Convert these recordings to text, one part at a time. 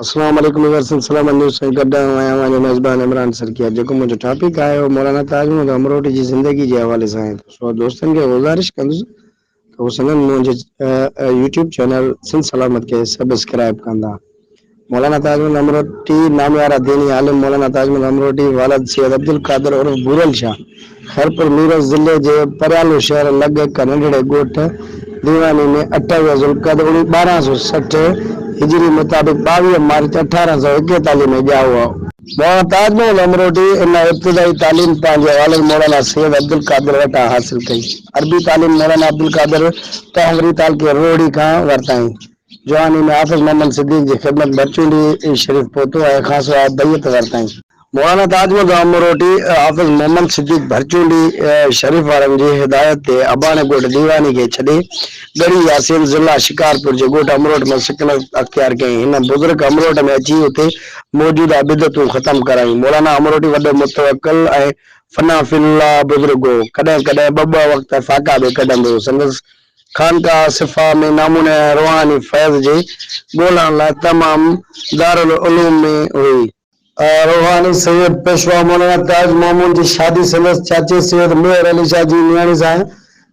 اسلام عليڪم ويورسين سلامت نيوز سان گڏ آئون آهيان اوهان جو ميزبان عمران سرڪيا جيڪو منهنجو ٽاپڪ آهي اهو مولانا تاج محمد امروٽي جي زندگي جي حوالي سان آهي سو دوستن کي گذارش ڪندس ته هو سندن منهنجي يوٽيوب چينل سنڌ سلامت کي سبسڪرائب ڪندا مولانا تاج محمد امروٽي ناميارا ديني عالم مولانا تاج محمد امروٽي والد سيد عبدالقادر عرف ڀورل شاهه خيرپور ميرس ضلعي جي پريالو شهر لڳ هڪ ننڍڙي ڳوٺ ديواني ۾ اٺاويهه ذوالقعدي اڻ ٻارهن سؤ سٺ هجري مطابق ٻاويهه مارچ اٺارهن سؤ ايڪيتاليهه ۾ ڄائو هئا. مولانا تاج محمد امروٽي ان ابتدائي تعليم پنهنجي والد مولانا سيد عبدالقادر وٽان حاصل ڪئي. عربي تعليم مولانا عبدالقادر تهوري تعلقي روهڙي کان ورتائين. جواني ۾ حافظ محمد صديق جي خدمت ڀرچونڊي شريف پهتو ۽ خاصو آء بيعت ورتائين. مولانا تاج محمد امروٽي حافظ محمد صديق ڀرچونڊي شريف وارن جي هدايت تي اباڻي ڳوٺ ديواني کي ڇڏي ڳڙهي ياسين ضلع شڪارپور جي ڳوٺ امروٽ ۾ سڪنت اختيار ڪيائين. هن بزرگ امروٽ ۾ اچي اتي موجود عبدتون ختم ڪرايون. مولانا امروٽي وڏو متوڪل ۽ فنا في الله بزرگ هو. ڪڏهن ڪڏهن ٻه ٻه وقت فاقا به ڪڍندو هو. سندس خانقاهه صفا ۾ ناموني ۽ روحاني فيض جي ڳولڻ لاء تمام دارالعلوم ۾ هئي. روحاني سيد پيشوا مولانا تاج محمود جي شادي سندس چاچي سيد ميهر علي شاهه جي نياڻي سان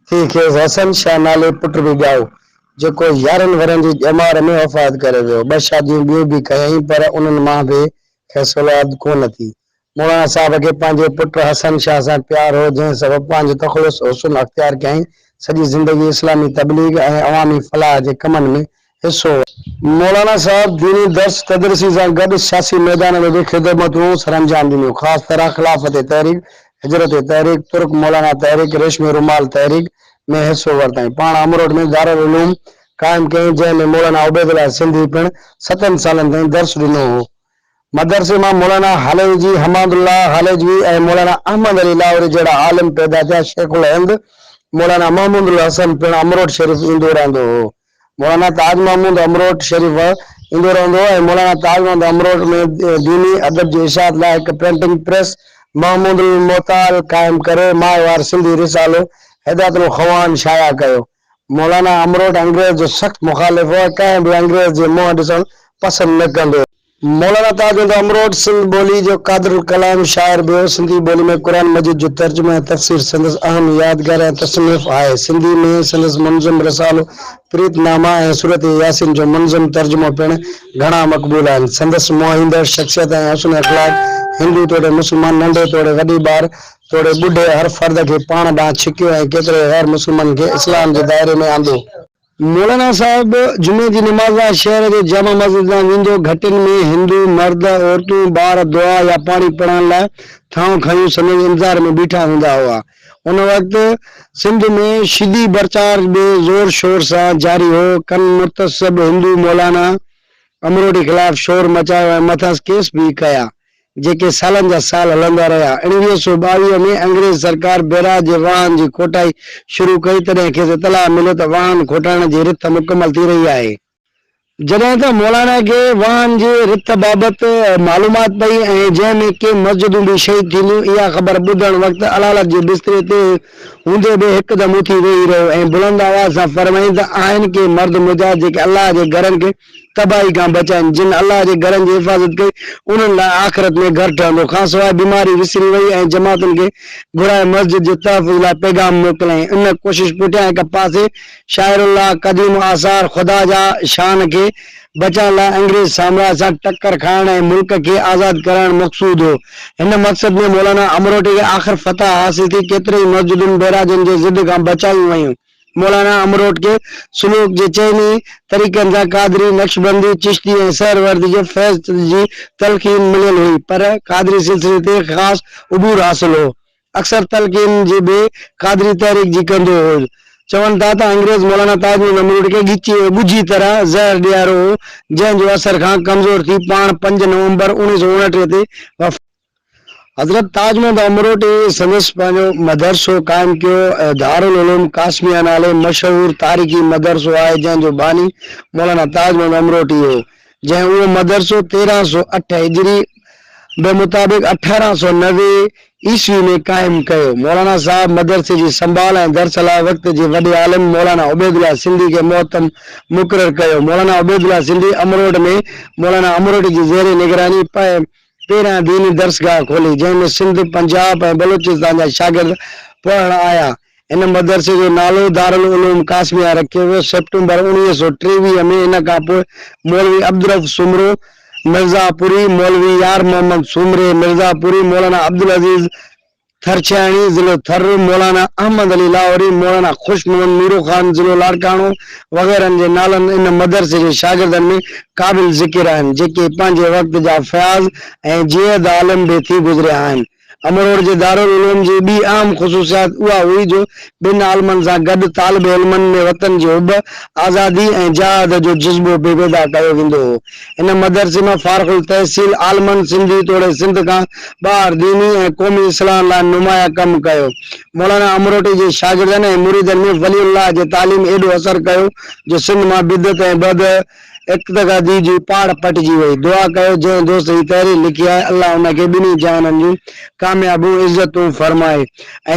ٿي، کيس حسن شاهه نالي پٽ به ڄائو، جيڪو يارهن ورهين جي ڄمار ۾ وفات ڪري ويو. ٻه شاديون ٻيون به ڪيائين، پر انهن مان به کيس اولاد ڪونه ٿي. مولانا صاحب کي پنهنجي پٽ حسن شاهه سان پيار هو، جنهن سبب پنهنجو تخلص حسن اختيار ڪيائين. سڄي زندگي اسلامي تبليغ ۽ عوامي فلاح جي ڪمن ۾ حصو ورتو. مولانا صاحب ديني درس تدريسي سان گڏ سياسي ميدان ۾ به خدمتون سرانجام ڏنيون. خاص طرح خلافت تحريڪ، هجرت تحريڪ، ترڪ مولانا تحريڪ، ريشمي رومال تحريڪ ۾ حصو ورتائين. پاڻ امروٽ ۾ دارالعلوم قائم ڪيائين، جنهن ۾ مولانا عبيدالله سنڌي پڻ ستن سالن تائين درس ڏنو هو. مدرسي مان مولانا هاليوجي، حماد الله هاليجوي ۽ مولانا احمد علي لاهوري جهڙا عالم پيدا ٿيا. شيخ الهند مولانا محمود الحسن پڻ امروٽ شريف ايندو رهندو هو. مولانا تاج محمود امروٽ شريف ايندو رهندو هو ۽ مولانا تاج محمود امروٽ ۾ ديني ادب جي اشاعت لاء هڪ پرنٽنگ پريس محمود المعتال قائم ڪري ماهوار سنڌي رسالو هدايت الخوان شايع ڪيو. مولانا امروٽ انگريز جو سخت مخالف هو ۽ ڪنهن به انگريز جي منهن ڏسڻ پسند نه ڪندو هو. مولانا تاج الهديٰ امروٽ سنڌ ٻولي جو قادر الڪلام شاعر به هو. سنڌي ٻولي ۾ قرآن مجيد جو ترجمو ۽ تفسير سندس اهم يادگار ۽ تصنيف آهي. سنڌي ۾ سندس منظم رسالو پريت نامه ۽ سورت ياسين جو منظم ترجمو پڻ گهڻا مقبول آهن. سندس موهيندڙ شخصيت ۽ حسن اخلاق هندو توڙي مسلمان، ننڍي توڙي وڏي ٻار توڙي ٻڍي هر فرد کي پاڻ ڏانهن ڇڪيو ۽ ڪيترن غير مسلمانن کي اسلام جي دائري ۾ آندو. مولانا صاحب جمعي جي نماز لاء شهر جي جامع مسجد ڏانهن ويندو. گهٽين ۾ هندو مرد، عورتون، ٻار دعا يا پاڻي پڙهڻ لاء ٿانون کنيون سندس انتظار ۾ بيٺا هوندا هئا. ان وقت سنڌ ۾ شدي پرچار به زور شور سان جاري هو. ڪن متعصب هندو مولانا امروٽي خلاف شور مچايو ۽ مٿس ڪيس به ڪيا. جيڪي سالن جا سال هلندا رهيا. اڻ ويهه سؤ ٻاويهه ۾ انگريز سرڪار بئراج جي واهن جي کوٽائي شروع ڪئي، تڏهن کيس اطلاع مليو ته واهن کوٽائڻ جي رٿ مڪمل ٿي رهي آهي. جڏهن ته مولانا کي واهن جي رٿ بابت معلومات پئي ۽ جنهن ۾ ڪي مسجدون به شهيد ٿينديون، اها خبر ٻڌڻ وقت علالت جي بستري تي هوندي به هڪدم اٿي ويهي رهيو ۽ بلند آواز سان فرمائين ته آهن ڪي مرد مجاهد جيڪي الله جي گهرن کي تباهي کان بچائين، جن الله جي گهرن جي حفاظت ڪئي، انهن لاء آخرت ۾ گهر ٺهندو. کانسواء بيماري وسري وئي ۽ جماعتن کي گهرائي مسجد جي تحفظ لاء پيغام موڪليائين. ان ڪوشش پٺيان هڪ پاسي شاعر الله قديم آثار خدا جا شان کي بچائڻ لاء انگريز سامراج سان ٽڪر کائڻ ۽ ملڪ کي آزاد ڪرائڻ مقصود هو. هن مقصد ۾ مولانا امروٽي کي آخر فتح حاصل ٿي، ڪيترين ئي مسجدن بئراجن جي ضد کان بچايون ويون. مولانا امروٽ کي سلوڪ جي چئن ئي طريقن سان قادري، نقشبندي، چشتي ۽ سهروردي جي فيض جي تلقين مليل هئي، پر قادري سلسلي تي خاص عبور حاصل هو. اڪثر تلقين جي به قادري تحريڪ جي ڪندو هو. چون ٿا ته انگريز مولانا تاج محمد امروٽ کي ڳچيء ۾ ڳجهي طرح زهر ڏيارو هو، جنهن جو اثر کان ڪمزور ٿي پاڻ پنج نومبر اوڻيهه سؤ اڻٽيهه تي وفات حضرت تاج محمد امروٽي سندس پنهنجو مدرسو قائم ڪيو ۽ دارالعلوم قاسميه نالي مشهور تاريخي مدرسو آهي جنهن جو باني مولانا تاج محمد امروٽي هو جنهن اهو مدرسو تيرهن سؤ اٺ هجري به مطابق اٺارهن سؤ نوي عيسوي ۾ قائم ڪيو مولانا صاحب مدرسي جي سنڀال ۽ درس لاء وقت جي وڏي عالم مولانا عبيدالله سنڌي کي مهتم مقرر ڪيو مولانا عبيدالله سنڌي امروٽ ۾ مولانا امروٽي جي زير نگراني پنهنجي پهريان ديني درسگاهه کولي، جنهن ۾ سنڌ، پنجاب ۽ بلوچستان جا شاگرد پڙهڻ آيا. هن مدرسي جو نالو دارالعلوم قاسميه رکيو ويو. سيپٽمبر اوڻويهه سؤ ٽيويهه ۾ ان کان پوء مولوي عبدالرؤف سومرو مرزا پوري، مولوي يار محمد سومري مرزا پوري، مولانا عبدالعزيز ٿر ڇيائڻي، ضلعو ٿر، مولانا احمد علي لاهوري، مولانا خوش محمد ميرو خان، ضلعو لاڙڪاڻو، وغيرهن جي نالن ان مدرسي جي شاگردن ۾ قابل ذڪر آهن، جيڪي پنهنجي وقت جا فياض ۽ جيد عالم به ٿي گذريا آهن. امروڙ جي دارالعلوم جي ٻي اهم خصوصيات اها هئي جو ٻن عالمن سان گڏ طالب علمن ۾ وطن جي حب، آزادي ۽ جهاد جو جذبو به پيدا ڪيو ويندو هو. هن مدرسي مان فارغ التحصيل عالمن سنڌي توڙي سنڌ کان ٻاهر ديني ۽ قومي اصلاحن لاء نمايان ڪم ڪيو. مولانا امروٽي جي شاگردن ۽ مريدن ۾ ولي الله جي تعليم ايڏو اثر ڪيو جو سنڌ مان بدعت ۽ بد اقتدادي جي پاڙ پٽجي وئي. دعا ڪيو جنهن دوست هي تحرير لکي آهي الله ان کي ٻنهي جهانن جون ڪاميابون عزتون فرمائي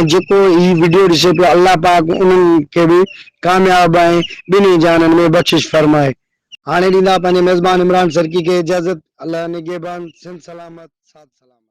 ۽ جيڪو هي وڊيو ڏسي پيو الله پاڪ انهن کي به ڪامياب ۽ ٻنهي جهانن ۾ بخشش فرمائي. هاڻي ڏيندا پنهنجي ميزبان عمران سرڪي کي اجازت الله نگهبان سنڌ سلامت ساڌ سلامت.